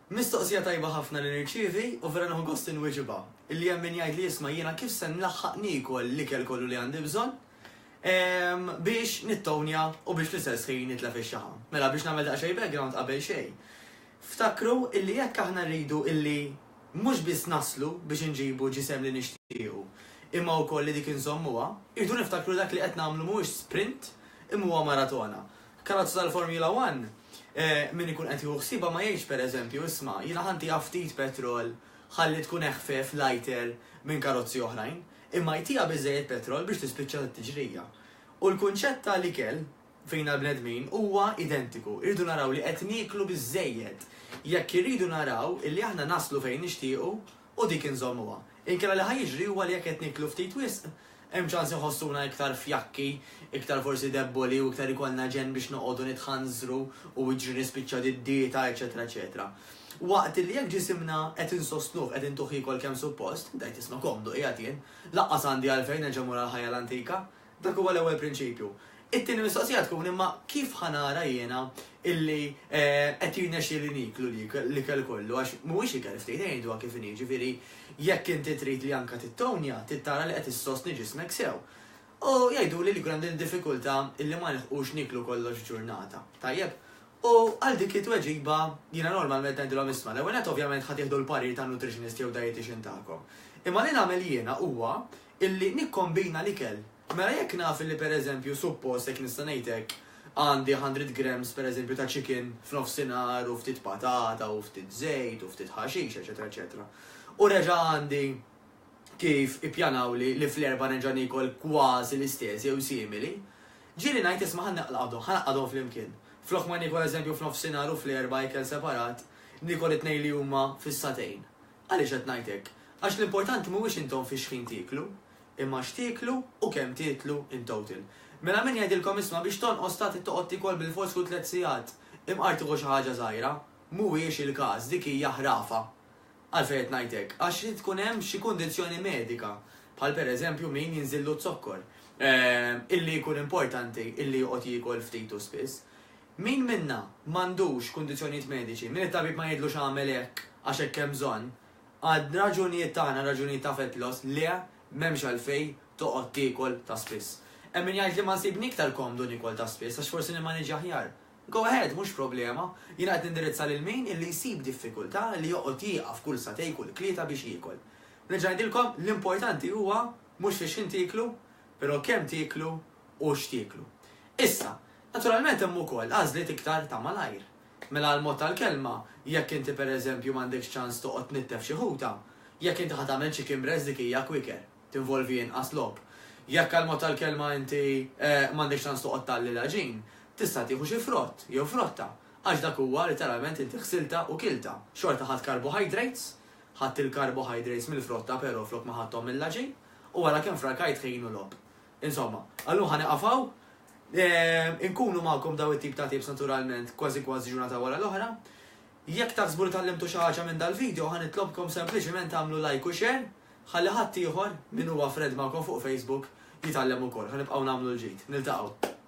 Mistoqsija tajba ħafna li nirċievi u vera nieħu gost inwieġibha. Illi hemm min jgħidli isma' jiena kif se nlaħħaq niekol l-ikel kollu li għandi bżonn biex nittownja u biex fl-istess ħin nitlef ix-xaħam. Mela biex nagħmel daqsxejn background qabel xejn. Ftakru illi jekk aħna rridu illi mhux biss naslu biex inġibu ġisem li nixtiequ imma wkoll li dik inżommuha, irridu niftakru li dak li qed nagħmlu mhuwiex sprint imma huwa maratona. Karozza tal-Formula One, min ikun qed jieħu ħsiebha ma jgħidx pereżempju, isma', jiena ħantiha ftit petrol ħalli tkun eħfef, lighter, minn karozzi oħrajn, imma jtiha biżżejjed petrol biex tispiċċa t-tiġrija. U l-kunċett ta' l-ikel fina l-bnedmin huwa identiku, irridu naraw li qed nieklu biżżejjed jekk irridu naraw illi aħna naslu fejn nixtiequ u dik inżommuha. Inkella li ħa jiġri huwa li jekk qed nieklu ftit wisq, hemm ċans inħossuna iktar fjakki, iktar forsi debboli u iktar ikollna ġenn biex noqogħdu nitħanżru u jiġri nispiċċa did-dieta, eċċetera eċċetera. Waqt li jekk ġisimna qed insostnuh, qed intuh jiekol kemm suppost, dajt jisma' komdu, qiegħed jien, lanqas għandi għalfejn nerġa' mmur għall-ħajja l-antika, Dak huwa l-ewwel prinċipju. It-tieni mistoqsija tkun imma kif ħa nara jiena illi qed jirnexxieli nieklu l-ikel kollu għax mhuwiex ikel ftit ngħiduha kif inhi jiġifieri jekk inti trid li anke tittownja trid tara li qed issostni ġismek sew. U jgħiduli li jkun hemm din id-diffikultà illi ma nilħqux nieklu kollox f'ġurnata. Tajjeb? U għal dik it-tweġiba jiena normalment ngħidilhom isma' l-ewwel nett ovvjament ħa tieħdu l-parir tan-nutritionist jew dietician tagħkom. Imma li nagħmel jiena huwa illi nikkombina l-ikel. Mela jekk naf illi pereżempju suppost, jekk nista' ngħid hekk, għandi hundred grams pereżempju ta' chicken f'nofsinhar u ftit patata u ftit żejt u ftit ħaxix eċetera eċetera u reġa' għandi kif ippjanawli li fl-Erbgħa nerġa' niekol kważi l-istess jew simili, ġieli ngħid isma' ħa naqlgħadhom, ħa ngħaqqadhom flimkien. Flok ma niekol eżempju f'nofsinhar u fl-Erbgħa ikel separat, niekol it-tnejn li huma fis-satejn. Għaliex qed ngħid hekk? Għax l-importanti mhuwiex intom fi xħin tieklu, imma x'tieklu u kemm tietlu in total. Mela min jgħidilkom isma' biex tonqos ta' trid toqgħod tiekol bilfors kull tliet sigħat? Imqar tieħu xi ħaġa żgħira? Mhuwiex il-każ, dik hija ħrafa. Għalfejn qed ngħid hekk? Għax irid tkun hemm xi kundizzjoni medika, bħal per eżempju min jinżillu z-zokkor, illi jkun importanti illi joqgħod jiekol ftit u spiss. Min minna m'għandux kundizzjonijiet mediċi, min it-tabib ma jgħidlux agħmel hekk għax hekk hemm bżonn, għal raġunijiet tagħna, raġunijiet ta' fett loss, le, m'hemmx għalfejn toqgħod tiekol ta' spiss. Hemm min jgħid li ma nsibni iktar komdu niekol ta' spiss għax forsi nimmaniġġja aħjar. Go ahead, mhux problema. Jiena qed nindirizza lil min illi jsib diffikultà li joqgħod jieqaf kull sagħtej, kull tlieta biex jiekol. Nerġa' ngħidilkom, l-importanti huwa mhux fiex-x'ħin tieklu, però kemm tieklu u x'tieklu. Issa, Naturalment hemm ukoll għażliet iktar ta' malajr. Mela għall-mod tal-kelma, jekk inti pereżempju m'għandekx ċans toqgħod tnittef xi ħuta, jekk inti ħa tagħmel chicken breast dik hija quicker, tinvolvi inqas logħob. Jekk għall-mod tal-kelma inti m'għandekx ċans toqgħod tgħalli l-għaġin, tista' tieħu xi frott jew frotta, għax dak huwa litteralment inti ħsiltha u kiltha. Xorta ħadt carbohydrates, ħadt il-carbohydrates mill-frotta però flok ma ħadthom mill-għaġin, u ara kemm frakajt ħin u logħob. Insomma, għallum ħa nieqaf hawn. Inkunu magħkom dawn it-tip ta' tapes naturalment kważi kważi ġurnata wara l-oħra. Jekk taħsbu li tgħallimtu xi ħaġa minn dal-video ħa nitlobkom sempliċiment tagħmlu like u share ħalli ħadd ieħor min huwa friend magħkom fuq Facebook jitgħallem ukoll. Ħa nibqgħu nagħmlu l-ġid. Niltaqgħu.